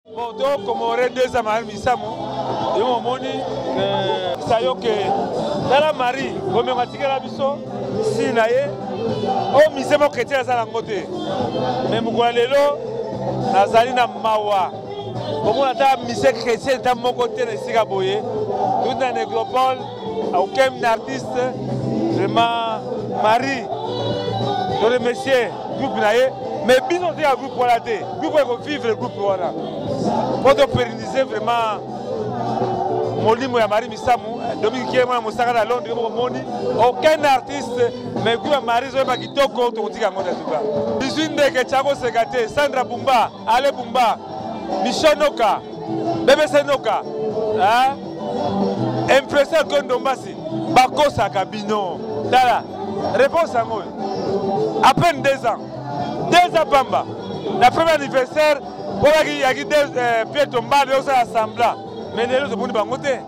Bon, to comore deux ans mahal misamo. Yo omoni euh, ça yo que tala Marie, bomengo atikela biso si na ye o oh, mise mo chrétien aza nango te. Mais mokolo lelo nazali na mawa komona ata mise chrétien ta moko te na esika boye tout na nécropole Aucun artiste vraiment Marie to remercier groupe na ye mais bino te ya groupe wana te groupe eko vivre groupe wana po to pérenniser vraiment molimo ya Marie Misamu Dominique Kiele mwana mosaka na Londres moko moni aucun artiste mais groupe ya Marie zoyeba kitoko tokotika yango na tuka 18 ndeke chako seka te Sandra Bumba Ale Bumba Michel Noka bebe senoka hein? impression que ndombasi bakosaka bino tala réponse yango oyo à peine deux ans deux ans pamba na premier anniversaire mpo yaki euh, pied tombale osala sembla mais lelo tomoni bango te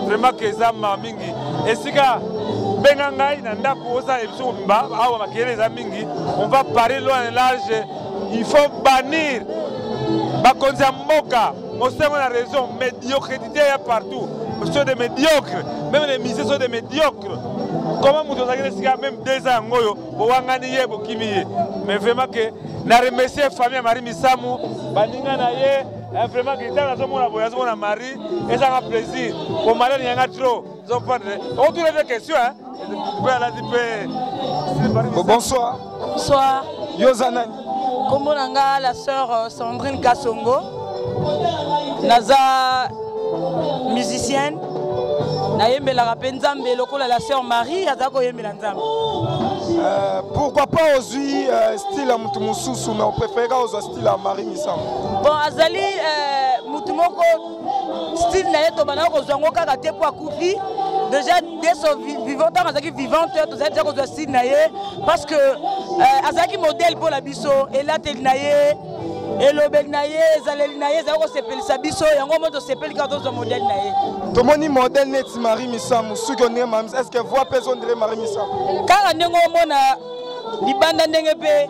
vraiment que eza mawa mingi esika benga ngai na ndako osala emission mobimba awa makele eza mingi on va parler loin et large il faut bannir bakonzi ya mboka mosengo na raison médiocrité ya partout sont des médiocres même les musées sont des médiocres comment moto ozalaki na esika même deux ans yango oyo bowangani ye bokimi ye mais vraiment que na remercie famille ya marie misamu baninga na ye Eh, vraiment guitare nazomona boye nazomona marie ezanga plaisir komala niyanga trop zopandre otuna mpe question mpe alati mpe bonsoir bonsoir yo oza nani nkombo na nga la sœur euh, sandrine kasongo naza musicienne nayembelaka mpe nzambe lokola la sœur marie aza koyembela nzambe euh, pourquoi pas ozwi euh, style ya motu mosusu mais opréféreka ozwa Sila Marie Misango. Bon azali euh, mutu moko style na ye tobanda kozwa yango kaka te mpo akufi déjà deso vivant ntango azalaki vivante tozali deja kozwa style na ye parce que euh, azalaki modèle mpo na biso elateli na ye elobeli na ye ezaleli na ye ezali kosepelisa biso yango mo tosepeli kaka tozwa modèle na ye tomoni modèle neti marie misamu soki ondenge mamis est ce que voi mpe ezondire marie misamu kaka ndenge omona libanda ndenge mpe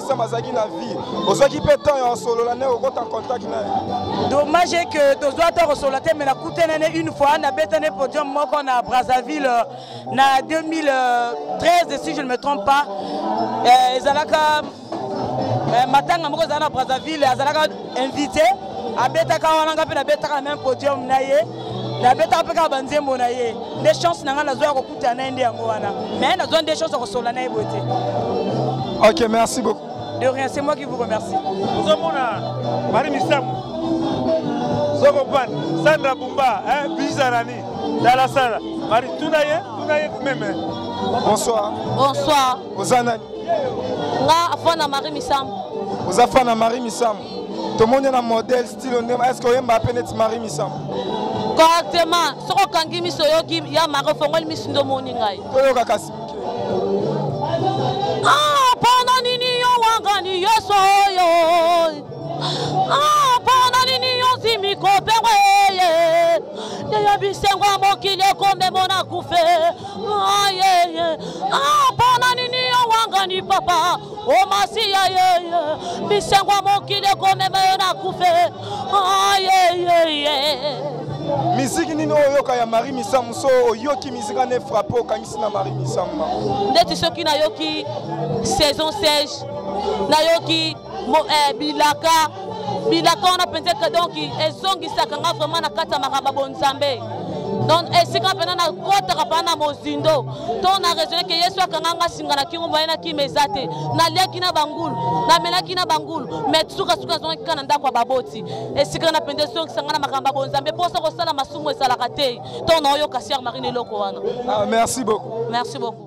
Sam azalaki na vie ozwaki mpe temps ya osolola naye okota contact naye dommage est que tozwa temps kosolola te mais nakutana ne une fois nabetane podium moko na brazzaville euh, na 2013 si je ne me trompe pas euh, ezalaka euh, matanga moko ezala na brazzaville azalaka invité abetaka wana nga mpe nabetaka na même podium na ye nabetaka mpe kaka banzembo na ye nde chance na ngai nazwa ta na ye nde yango wana mais nazwa nde chance ya kosola na ye boye te ok merci beaucoup de rien c'est moi qui vous remercie ozomona mari misamu zokopan sandra bumba bizarani dalasala mari tuna ye tuna ye meme bonsoir bonsoir oza nani nga afana mari misamu oza fana mari misamu tomoni na modèle Tino Ndema, est-ce que oyemba pe neti Marie Misamu? Correctement, soki okangi miso oyoki ya Marie ofongoli miso nde omoni ngai. Toyoka kasi moke. Ah, pona nini yo wangani Yesu oyo? Ah, pona nini yo zimi kopengwa eye? Yeya bisengo ya mokili ekomemo na kufe. Ah, yeah, yeah. Ah, pona nini yo wangani papa? o masiya yeye bisengo ya mokili ekomema yo na kufe ayeyeye miziki nini oyo oyoka ya marie misamu so oyoki miziki ane frappe okangisi na marie misamu mama ndeti soki nayoki saison sage nayoki eh, bilaka bilaka wana mpenza ete donc ezongisaka nga vraiment na kati ya makaba bonzambe donc esika mpena nakotaka mpena na mozindo to na raisonne ke yesu akanga nga singa na kingo baye na kima eza te naliaki na bangulu namelaki na bangulu mai sukasuka nazongaki kaka na ndako ya baboti esika wana mpenza ezongisa nga na makambo ya bonzambe mposa kosala masumu ezalaka te to naoyoka siar marine eloko wana ah, merci beaucoup merci beaucoup